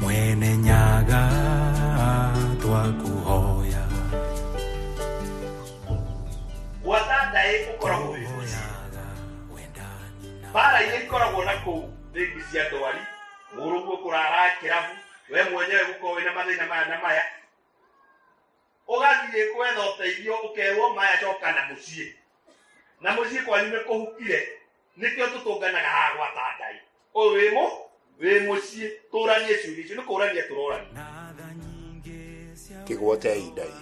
mwene nyaga twakuhoya gwatata ĩ ũkoragwo wĩ mũciĩ bara iria ikoragwo na kũu rĩngi cia ndwari mũrũguo kũrara kĩrabu we mwenyewe gũkorwo wĩna mathĩna maya na maya ũgathiĩ kwetha ũteithio ũkerwo maya coka na mũciĩ na mũciĩ kwanyu nĩ kũhukire nĩkĩo tũtũnganaga haha gwata ngai ũyũ wĩ mũ wĩ mũciĩ tũranie ciũria icio nĩ kũrania tũrorania kĩgwotei ndai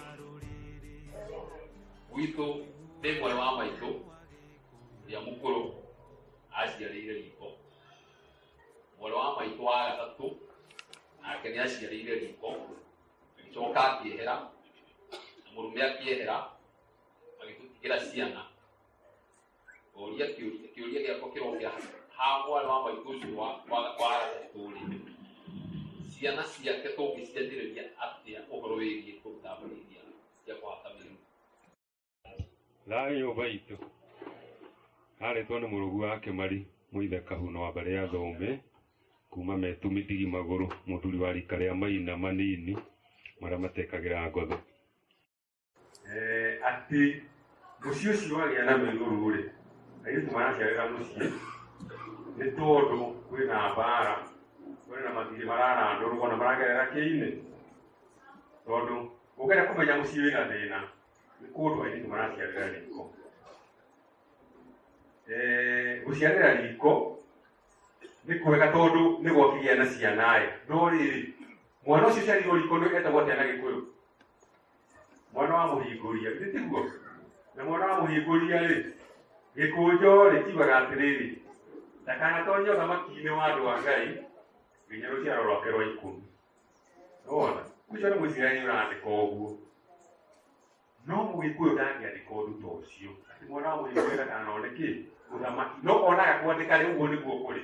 gwitũ rĩmwe wa maitũ ũrĩa mũkũrũ aciarĩire riko mwarĩ wa maitũ wa gatatũ nake nĩ aciarĩire riko agĩcoka akĩehera na mũrume akĩehera magĩtũtigĩra ciana kĩũria kĩũria kĩũria gĩakwa kĩrokĩra hagwa wa maitũ ũcio wa wa wa aratatũ rĩ ciana ciake tũngĩcianjĩrĩria atĩa ũhoro wĩgiĩ kũruta mbũri iria cia kũhata mĩrimũ thayå baitå arĩtwo nĩ mũrũgu wa kĩmari mũithe kahuna wa mbarĩ ya thũmbĩ kuma metumi ndigi magũrũ mũthuri wa rika rĩa maina manini marĩa matekagĩra ngotho atĩ mũciĩ ũcio wagĩa na mĩruru-rĩ airĩtu maraciarĩra mũciĩ nĩ tondũ kwĩna mbara kwĩna matirĩ mararandũrwo na maragerera kĩinĩ tondũ ũgeria kũmenya mũciĩ wĩna thĩna nĩ kũndũ airĩtu maraciarĩra riko gũciarĩra riko nĩ kwega tondũ nĩ gwakĩgĩa na ciana-ĩ no rĩrĩ mwana ũcio ũciarĩirwo riko nĩ etagwo atĩa na gĩkũyũ mwana wa mũhingũria githĩ tiguo na mwana wa mũhingũria rĩ gĩkũnjo rĩ kiugaga atĩrĩrĩ ndakanatonye ũthamaki-inĩ wa andũ a ngai nginya rũciaro rwake rwa ikũmi nĩwona ũcio nĩ mũisiraeli ũrandĩka ũguo no mũgĩkũyũ ndangĩandĩka ũndũ ta ũcio atĩ mwana wa mũhingũria ndakanone kĩ ũthamaki no onaga kwandĩka rĩ ũguo nĩguo kũrĩ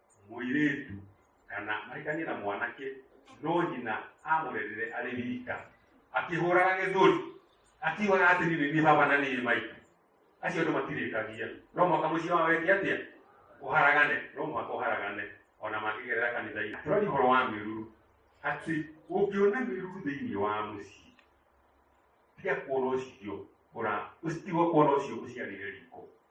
mũirĩtu kana maikanie na mwanake no nyina amũrerire arĩ wika akĩhũraga gĩthũri akiugaga atĩ niĩ nĩ niĩ baba na niĩ maitũ acio andũ matirĩkagia no mwaka mũciĩ wa weke atĩa ũharagane no mwaka ũharagane ona makĩgerera kanitha-inĩ tũrari ũhoro wa mĩruru atĩ ũngĩona mĩruru thĩinĩ wa mũciĩ tiga kuona ũcio ũra ũtiga kuona ũcio ũciarĩre riko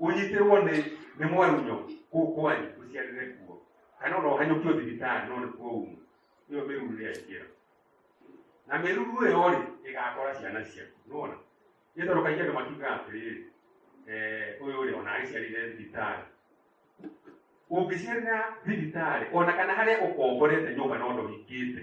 ũnyitĩrwo nĩ nĩ mwarunyũ kũu kwanyu ũciarĩre kuo kana ona ũhanyũkio thibitarĩ no nĩ kuo umu nĩyo mĩruru nĩ yaingĩra na mĩruru ĩyo rĩ ĩgakora ciana ciaku nĩwona nĩ tondũ kaingĩ andũ makiugaga atĩrĩrĩ eh, ũyũ rĩ ona agĩciarire thibitarĩ ũngĩciarĩra thibitarĩ ona kana harĩa ũkomborete nyũmba no ndũhingĩte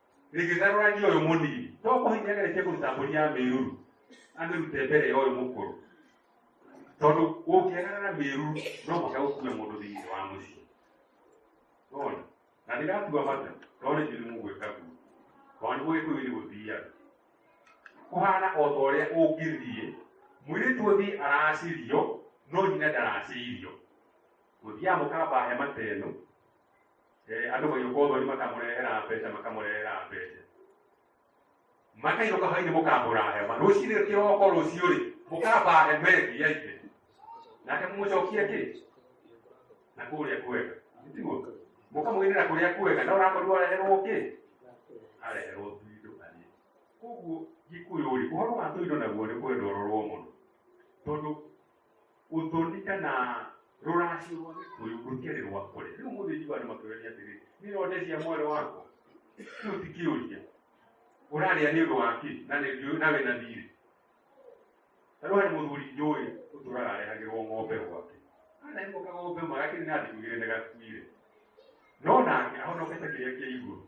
rĩgĩtharũrania ũyũ mũnini to kũhinya geretie kũruta mbũri ya mĩruru amĩrute mbere ya ũyũ mũkũrũ tondũ ũngĩagarara mĩruru no mũka gũkue mũndũ thĩinĩ wa mũciĩ wona na ndĩratua mata tondũ nĩ njĩri mũgwĩka guo tondũ nĩ gũgĩkũyũ nĩ gũthiaga kũhana o ta ũrĩa ũngĩthiĩ mwĩrĩtu ũthiĩ aracirio no nyina ndaracirio gũthiaga mũkamba hema ta ĩno Eh, andå gå yå thoni makamũrehera mbeca makamũrehera mbeca makainũka hwainĩ mũkambũra hema rũcinĩ kĩroko rũciũ rĩ mũkamba hema ĩngĩ ya ithe nake mũmũcokie kĩ na kũrĩa kwega tiguo mũkamwĩrĩra kũrĩa kwega na ũrakorirwo areherwo kĩ areherwo tuindo arĩ koguo gĩkũyũ rĩ ũhoro wa tuindo naguo nĩ kwenda ũrorwo mũno tondũ utonite na ruracio rwa gikuyu rukere rwa kure riu muthu juu andu makiuria atiri ni ronde cia mwere wako riu tikiuria uraria ni undu waki na ni riu na wina thiri riu hari muthuri njui uturaga arehagirwo ng'ombe gwake kana imo kag'ombe magakiri na ndikugire ni gakuire no nake ahonokete kiria kia iguru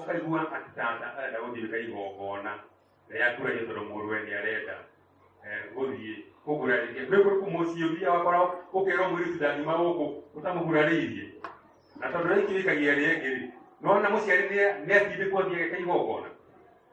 ũkaigua atĩ tata arenda gũthiĩka igongona rĩrĩa kũraiyo tondũ mũrũwe nĩ arenda eh, gũthiĩ kũgura rĩngĩ nĩ kũrĩ kũmũciĩ ũthiaga wakora ũkerwo mũirĩtu ndangiuma gũkũ ũtamũgurarĩirie na tondũ rĩkĩrĩkagia rĩngĩ rĩ nona mũciari nĩ atindĩkwo thiageka igongona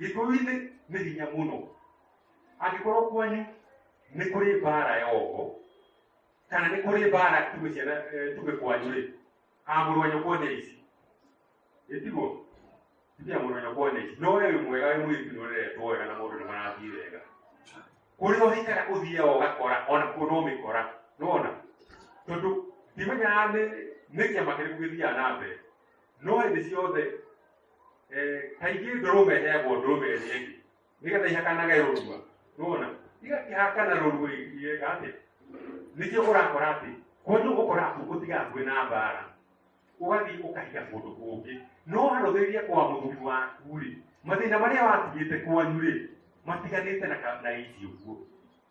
gĩkũyũ-inĩ nĩ hinya mũno angĩkorwo kwanyu nĩ kũrĩ mbaara ya ũgo kana nĩ kũrĩ mbaara tuge ciana eh, tuge kwanyu rĩ amũrũ wa nyũkwa nĩ ici ĩtiguo tuge amũrũ wa nyũkwa nĩ ici no we wĩ mwega wĩ mũirĩtu nĩ ũreretwo wega na mũndũ nĩ marathiĩ wega kũrĩa ũhikara ũthiaga ũgakora ona kuo no mĩkora nona tondũ ndimenyaga nĩ nĩ kĩama kĩrĩkũ gĩthiaga na mbere no hĩndĩ ciothe eh, kaingĩ ndũrũme ĩheagwo ndũrũme ĩrĩa ĩngĩ nĩgetha ihakanage rũrua nona igakĩhakana rũrua igĩka atĩ nĩkĩo ũrakora atĩ kwanyu ũgũkora atĩ ũtigakuĩ na mbara ũgathiĩ ũkahiga kũndũ kũngĩ no warũgĩrĩria kwa mũthuri waku-rĩ mathĩna marĩa watigĩte kwanyu-rĩ matiganĩte na ka- na ici ũguo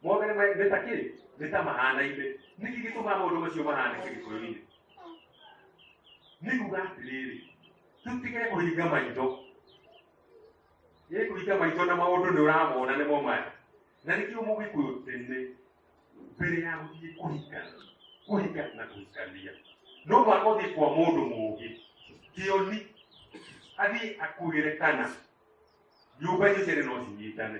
mũndũ nĩ ma- nĩ ta kĩ nĩ ta mahanaine nĩkĩ gĩtũmaga maũndũ macio mahane kĩgĩkũyũ-inĩ nĩ kuga atĩrĩrĩ tũtige kũhinga maitho nĩ kũhinga maitho na maũndũ nĩ ũramona nĩ momaya na nĩkĩo mũgĩkũyũ tene mbere ya gũthiĩ kũhinga kũhinga na kũhikania no mwaka ũthiĩ kwa mũndũ mũũgĩ kĩoni athiĩ akugĩre kana nyũmba icio cierĩ no cinyitane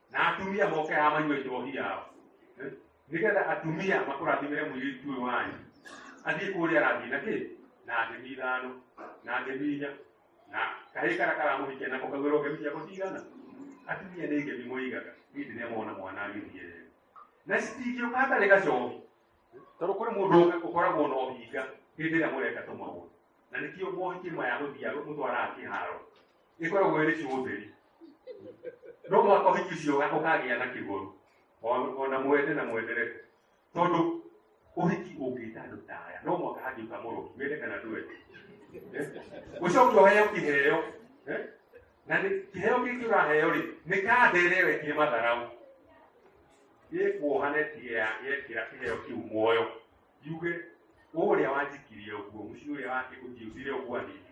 na atumia moke haha manyue njohi yao Eh? nĩgetha atumia makũrathimĩre mũirĩtu ũyũ wanyu athiĩ kũrĩa arathiĩ na kĩ na ndĩmi ithano na ndĩmi inya na kahĩ kara karamũhikia nako kagwĩrwo ngemi ciako cigana atumia nĩ ngemi mũigaga niĩ ndĩrĩa mona mwana agĩthiĩ rero na citingĩũka hatarĩ gacohi tondũ kũrĩ mũndũ ũka- ũkoragwo na ũhinga hĩndĩ ĩrĩa mũreka tũmaũndũ na nĩkĩo mohiki maya gũthiaga mũtwaraga kĩharo ĩkoragwo ĩrĩ kĩũtheri no mũhaka ũhiki ũcio ũga- ũkagĩa na kĩgũrũ O- ona mwende na mwendere tondũ ũhiki ũngĩta andũ ta aya no mũhaka hangĩũka mũrũki mende kana ndwende Eh? ũcoke ũheo kĩheo Eh? na nĩ- kĩheo gĩkĩ ũraheo rĩ nĩ kandere wekire matharaũ ĩkuohane tiga yekĩra kĩheo kĩu muoyo yuge ũrĩa wanjikirie ũguo mũciĩ ũrĩa wake ũnjiũtire ũguo anĩire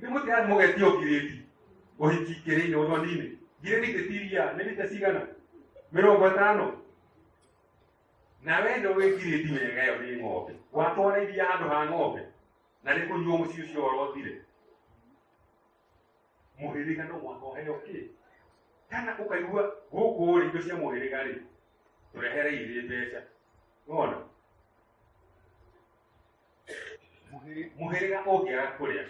Nĩ mũtihani mũgetio ngirĩndi ũhiki kĩrĩinĩ ũthoni-inĩ. Ngirĩndi kĩtiria nĩ mita cigana? Mĩrongo ĩtano. Na we nĩ ũĩ ngirĩndi wega ĩyo nĩ ng'ombe. Watwara iria handũ ha ng'ombe na nĩ kũnyuo mũciĩ ũcio ũrotire. Mũhĩrĩga no mwaka ũheo kĩ? Kana ũkaigua gũkũ rĩ indo cia mũhĩrĩga rĩ tũrehere irĩ mbeca. Nĩ wona? mũhĩrĩga ũngĩaga kũrĩa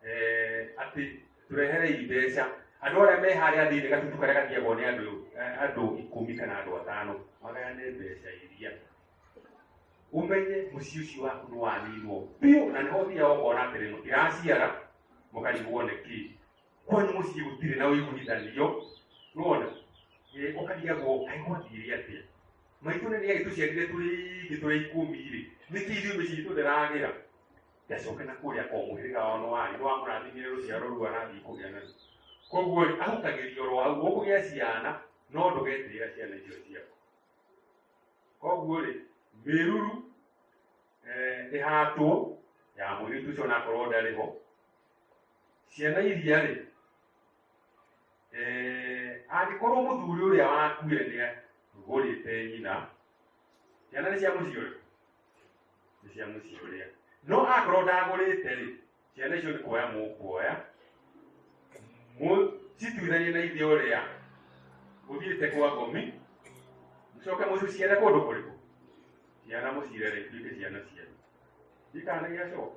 eh, atĩ tũreherei mbeca andũ arĩa me harĩa thĩinĩ gatutu karĩa gathiagwo nĩ andũ eh, andũ ikũmi kana andũ atano magayane mbeca iria umenye mũciĩ ũcio waku nĩ wanĩirwo biũ na nĩho thiaga ũkona atĩrĩ mũtiraciara mũkarigwo nĩ kĩĩ kwanyu muciĩ gũtirĩ na ũiguithanio nĩwona Eh, ũkarigagwo kaĩ gwathire atĩa maitũ nĩ nĩagĩ tũciarire tũrĩ ingĩ tũrĩ ikũmi rĩ nĩkĩ ithuĩ mĩciĩ itũ ndĩragĩra ndacoke na kũrĩa o mũhĩrĩga wao nĩ warĩ nĩ wamũrathimire rũciaro rũu arathiĩ kũgĩa na koguo rĩ ahutagĩrio oro hau ũkũgĩa ciana no ndũgetĩĩra ciana icio ciaku koguo rĩ mĩruru eh, ĩhatwo ya mũirĩtu ũcio onakorwo ndarĩ ho ciana iria rĩ eh, angĩkorwo mũthuri ũrĩa wakuire nĩ agũrĩte nyina ciana nĩ cia mũciĩ ũrĩkũ nĩ cia mũciĩ ũrĩa no akorwo ndagũrĩte rĩ ciana icio nĩ kuoya mũkuoya cituithanie na ithe ũrĩa ũthiĩte kwa ngomi mũcoke mũciciare kũndũ kũrĩkũ ciana mũcirere ituĩke ciana cianyu ikana gĩacoka